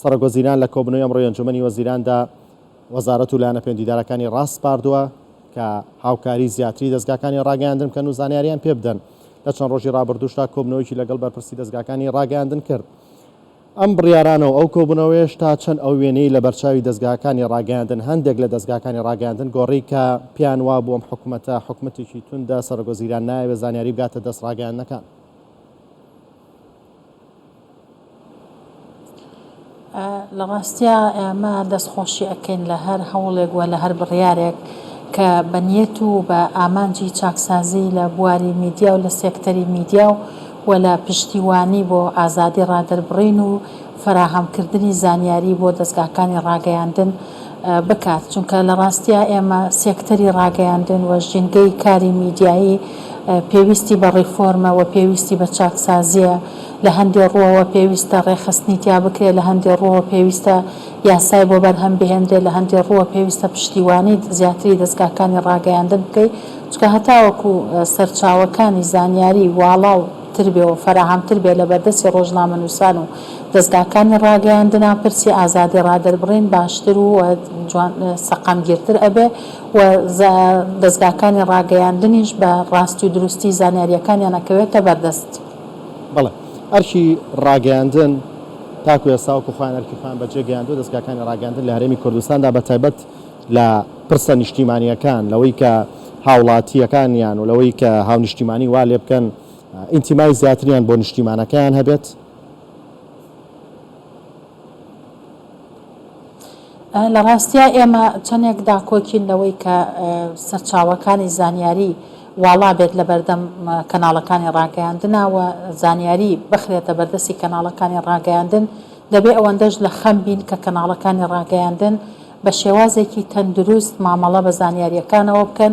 سەرۆکوەزیران لە کۆبوونەوەی ئەمڕۆی ئەنجوومەنی وەزیراندا وەزارەت و لایەنە پێوەندیدارەکانی ڕاسپاردووە کە هاوکاری زیاتری دەزگاکانی ڕاگەیاندن بکەن و زانیاریان پێ بدەن لە چەند ڕۆژی ڕابردووشدا کۆبنەوەیکی لەگەڵ بەرپرسی دەستگاکانی ڕاگەاندن کرد ئەم بڕیارانە و ئەو کۆبوونەوەیش تا چەند ئەو وێنەی لە بەرچاوی دەستگاکانی ڕاگەاندن هەندێک لە دەستگاکانی ڕاگەاندن گۆڕی کە پیان وا بووم حکوومەتە حکوومەتێکی توندە سەرگۆزیران نایەوێ زانیاری بگاتە دەست ڕاگەاندنەکان لە ڕاستیا ئێمە دەستخۆشی ئەکەین لە هەر هەوڵێک و لە هەر بڕیارێک کە بە نیەت و بە ئامانجی چاکسازی لە بواری میدیا و لە سێکتەری میدیا و لە پشتیوانی بۆ ئازادی ڕادەربڕین و فەراهەمکردنی زانیاری بۆ دەزگاکانی ڕاگەیاندن بکات، چونکە لە ڕاستیا ئێمە سێکتەری ڕاگەیاندن و ژینگەی کاری میدیایی پێویستی بە ڕیفۆرمە و پێویستی بە چاکسازییە، لە هەندێ ڕووەوە پێویستە ڕێکخستنی تیا بکرێت، لە هەندێ ڕووەوە پێویستە یاسای بۆ بەرهەم بهێنرێت، لە هەندێ ڕووە پێویستە پشتیوانی زیاتری دەزگاکانی ڕاگەیاندن بکەین، چونکە هەتاوەکو سەرچاوەکانی زانیاری واڵاو تر بێ و فەراهەمتر بێت لە بەردەستی ڕۆژنامەنووسان و دەزگاکانی ڕاگەیاندن ئەم پرسی ئازادی ڕادەربڕین باشتر و جوان سەقامگیرتر ئەبێ و دەزگاکانی ڕاگەیاندنیش بە ڕاستی و دروستی زانیاریەکانیان ئەکەوێتە بەردەست. بەڵێ ئەرکی ڕاگەیاندن تاکو ئێستا وەکو خۆیان ئەرکی خۆیان بەجێ گەیاندوە، دەزگاکانی ڕاگەیاندن لە هەرێمی کوردستاندا بە تایبەت لە پرسە نیشتیمانیەکان لەوەی کە هاوڵاتیەکانیان و لەوەی کە هاونیشتیمانی وا لێبکەن ئینتیمای زیاتریان بۆ نیشتیمانەکەیان هەبێت، لە ڕاستیا ئێمە چەندێک داکۆکین لەوەی کە سەرچاوەکانی زانیاری واڵا بێت لە بەردەم کەناڵەکانی ڕاگەیاندنا و زانیاری بخرێتە بەردەستی کەناڵەکانی ڕاگەیاندن، دەبێ ئەوەندەش لە خەم بین کە کەناڵەکانی ڕاگەیاندن بە شێوازێکی تەندروست مامەڵە بە زانیارییەکانەوە بکەن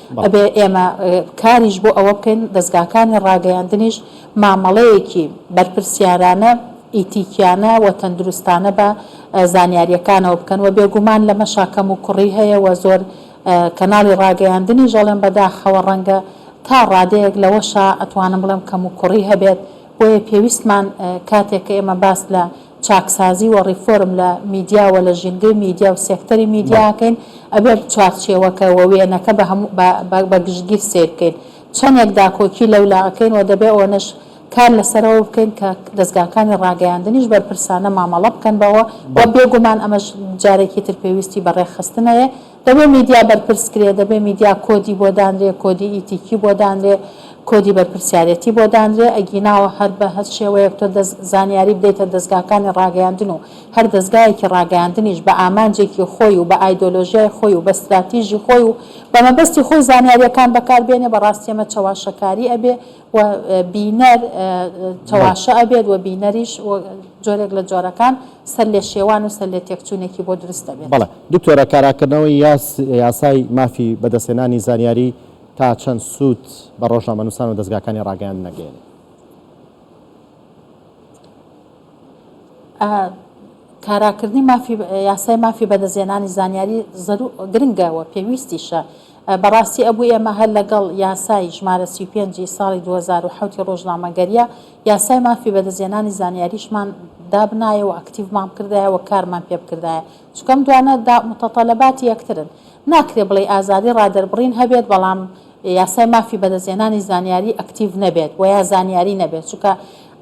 ئەبێ ئێمە کاریش بۆ ئەوە بکەین دەزگاکانی ڕاگەیاندنیش مامەڵەیەکی بەرپرسیارانە، ئیتیکیانە و تەندروستانە بە زانیارییەکانەوە بکەن و بێگومان لەمەشا کەموکوڕی هەیە و زۆر کەناڵی ڕاگەیاندنیش ئەڵێم بەداخەوە ڕەنگە تا ڕادەیەک لەوەشا ئەتوانم بڵێم کەموکوڕی هەبێت بۆیە پێویستمان کاتێک کە ئێمە باس لە چاکسازی و ڕیفۆرم لە میدیا و لە ژینگەی میدیا و سێکتەری میدیا ئەکەین، ئەبێت چوارچێوەکە و وێنەکە بە هەموو بە گشتگیر سەیر بکەین. چەندێک داکۆکی لەولا ئەکەین و دەبێت ئەوەنەش کار لەسەرەوە بکەین کە دەزگاکانی ڕاگەیاندنیش بەرپرسانە مامەڵە بکەن بەوە و بێگومان ئەمەش جارێکی تر پێویستی بە ڕێکخستنەیە. دەبێ میدیا بەرپرس کرێ، دەبێ میدیا کۆدی بۆ دانرێ، کۆدی ئیتیکی بۆ دانرێ، کۆدی بەرپرسیارێتی بۆ دانرێ، ئەگینا هەر بە هەر شێوەیەک تۆ دەست زانیاری بدەیتە دەزگاکانی ڕاگەیاندن و هەر دەزگایەکی ڕاگەیاندنیش بە ئامانجێکی خۆی و بە ئایدۆلۆژیای خۆی و بە ستراتیژی خۆی و بە مەبەستی خۆی زانیاریەکان بەکار بێنێ بە ڕاستیەمە چەواشەکاری ئەبێ و بینەر چەواشە ئەبێت و بینەریش جۆرێک لە جۆرەکان سەر لێ شێوان و سەر لێ تێکچوونێکی بۆ دروست دەبێت. بەڵێ دکتۆرە کاراکردنەوەی یاسای مافی بەدەستهێنانی زانیاری تا چەند سوود بە ڕۆژنامەنووسان و دەزگاکانی ڕاگەیاندن ئەگەیەنێت؟ کاراکردنی یاسای مافی بەدەستهێنانی زانیاری گرنگە و پێویستیشە. بەڕاستی ئەبوو ئێمە هەر لەگەڵ یاسای ژمارە سی و پێنج ی ساڵی دوو هەزار و حەوت ی ڕۆژنامەگەرییە، یاسای مافی بەدەستهێنانی زانیاریشمان دابنایە و ئەکتیڤمان بکردایە و کارمان پێ بکردایە. چونکە ئەم دوانە دا متەتەلەباتی یەکترن. ناکرێ بڵێی ئازادی ڕادەربڕین هەبێت، بەڵام. یاسای مافی بەدەستهێنانی زانیاری ئەکتیڤ نەبێت وە یا زانیاری نەبێت چونکە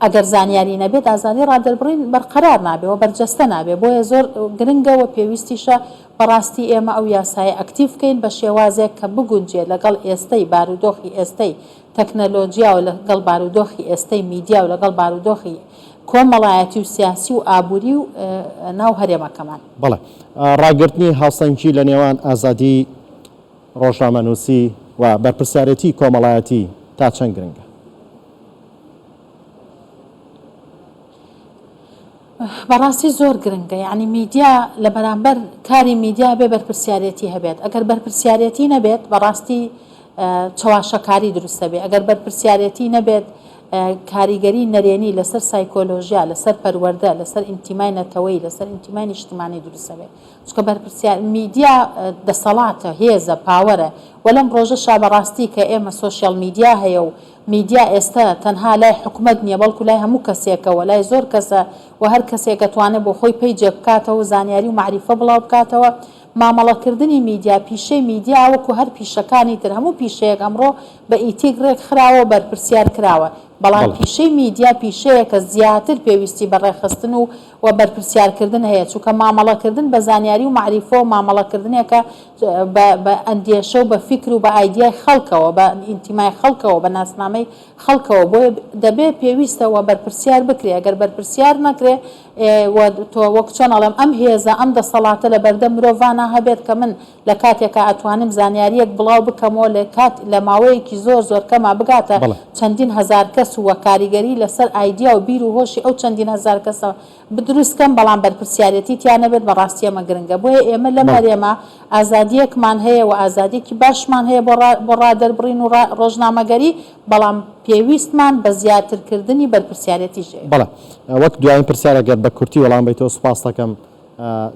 ئەگەر زانیاری نەبێت ئازادی ڕادەربڕین بەرقەرار نابێت وە بەرجەستە نابێت بۆیە زۆر گرنگە وە پێویستیشە بەڕاستی ئێمە ئەو یاسایە ئەکتیڤ بکەین بە شێوازێک کە بگونجێت لەگەڵ ئێستەی بارودۆخی ئێستەی تەکنەلۆجیا و لەگەڵ بارودۆخی ئێستەی میدیا و لەگەڵ بارودۆخی کۆمەڵایەتی و سیاسی و ئابووری و ناو هەرێمەکەمان. بەڵێ ڕاگرتنی هاوسەنگی لە نێوان ئازادی. ڕۆژنامەنووسی و بەرپرسیارێتیی کۆمەڵایەتی تا چەند گرنگە؟ بەڕاستی زۆر گرنگە، یەعنی میدیا لە بەرامبەر کاری میدیا ئەبێ بەرپرسیارێتی هەبێت، ئەگەر بەرپرسیارێتی نەبێت بەڕاستی چەواشەکاری دروست دەبێت، ئەگەر بەرپرسیارێتی نەبێت کاریگەری نەرێنی لەسەر سایکۆلۆژیا، لەسەر پەروەردە، لەسەر ئینتیمای نەتەوەیی، لەسەر ئینتیمای نیشتمانی دروست دەبێت. چونکە بەرپرسیار میدیا دەسەڵاتە، هێزە، پاوەرە و لەم ڕۆژەشا بە ڕاستی کە ئێمە سۆشیال میدیا هەیە و میدیا ئێستە تەنها لای حکومەت نیە بەڵکو لای هەموو کەسێکە و لای زۆر کەسە و هەر کەسێک ئەتوانێ بۆ خۆی پەیجێک بکاتەوە و زانیاری و مەعریفە بڵاو بکاتەوە مامەڵە کردنی میدیا پیشەی میدیا وەکو هەر پیشەکانی تر هەموو پیشەیەک ئەمڕۆ بە ئیتیک ڕێک خراوە و بەرپرسیار کراوە بەڵام بەڵێ. پیشەی میدیا پیشەیەکە زیاتر پێویستی بە ڕێکخستن و و بەرپرسیار کردن هەیە چونکە مامەڵە کردن بە زانیاری و مەعریفەوە مامەڵە کردنێکە بە بە ئەندێشە و بە فیکر و بە ئایدیای خەڵکەوە بە ئینتیمای خەڵکەوە بە ناسنامەی خەڵکەوە بۆیە دەبێ پێویستە و بەرپرسیار بکرێ ئەگەر بەرپرسیار نەکرێ ئێ وە تۆ وەک چۆن ئەڵێم ئەم هێزە ئەم دەسەڵاتە لە بەردەم مرۆڤانا هەبێت کە من لە کاتێکا ئەتوانم زانیاریەک بڵاو بکەمەوە لە کات لە ماوەیەکی زۆر زۆر کەما بگاتە بەڵێ. چەندین هەزار کەس و کاریگەری لەسەر ئایدیا و بیر و هۆشی ئەو چەندین هەزار کەسە بدروست کەم بەڵام بەرپرسیارەتی تیا نەبێت بەڕاستی ئەمە گرنگە بۆیە ئێمە لەم بەڵێ. هەرێمە ئازادیەکمان هەیە و ئازادیەکی باشمان هەیە بۆ ڕا بۆ ڕا دەربڕین و ڕا ڕۆژنامەگەری بەڵام پێویستمان بە زیاتر کردنی بەرپرسیارەتیش هەیە. بەڵێ وەک دوایین پرسیار ئەگەر بە کورتی وەڵام بەیتەوە سوپاستەکەم.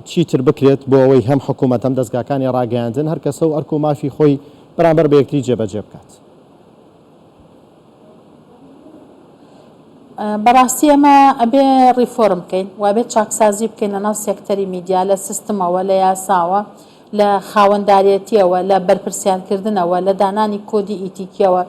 چیتر بکرێت بۆ ئەوەی هەم حکوومەت هەم دەزگاکانی ڕاگەیاندن هەر کەسە و ئەرک و مافی خۆی بەرامبەر بە یەکتری جێبەجێ بکات. بەڕاستی ئێمە ئەبێ ڕیفۆرم بکەین و ئەبێ چاکسازی بکەین لەناو سێکتەری میدیا، لە سیستمەوە، لە یاساوە، لە خاوەندارێتییەوە، لە بەرپرسیارکردنەوە، لە دانانی کۆدی ئیتیکییەوە.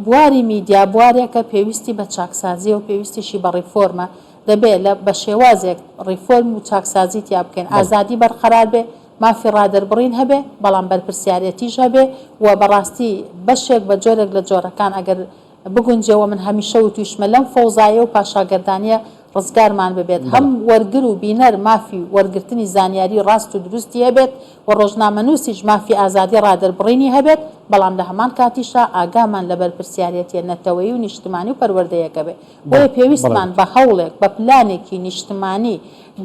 بواری میدیا بوارێکە پێویستی بە چاکسازییە و پێویستیشی بە ڕیفۆرمە، دەبێ لە بە شێوازێک ڕیفۆرم و چاکسازی تیا بکەین، بەڵێ. ئازادی بەرقەرار بێ، مافی ڕادەربڕین هەبێ، بەڵام بەرپرسیارێتیش هەبێ و بە ڕاستی بەشێک بە جۆرێک لە جۆرەکان ئەگەر بگونجێ و من هەمیشە وتوویشمە لەم فەوزایە و پاشاگەردانییە ڕزگارمان ببێت، هەم وەرگر و بینەر مافی وەرگرتنی زانیاری ڕاست و دروستی هەبێت و ڕۆژنامەنووسیش مافی ئازادی ڕادەربڕینی هەبێت، بەڵام لە هەمان کاتیشا ئاگامان لە بەرپرسیارێتیە نەتەوەیی و نیشتمانی و پەروەردەیەکە بێت. بۆیە پێویستمان بە هەوڵێک، بە پلانێکی نیشتمانی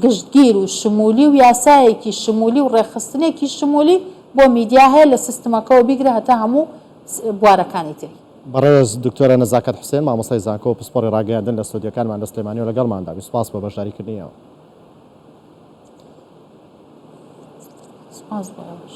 گشتگیر و شمولی و یاسایەکی شمولی و ڕێکخستنێکی شمولی بۆ میدیا هەیە، لە سیستمەکەوە بیگرە هەتا هەموو بوارەکانی تری. بەڕێز دکتۆرە نەزاکەت حوسێن مامۆستای زانکۆ و پسپۆڕی ڕاگەیاندن لە ستۆدیۆکانمان لە سلێمانی و لەگەڵماندا بی سوپاس بۆ بەشداریکردنی ئێوە. سپاس بۆ ئێوەش.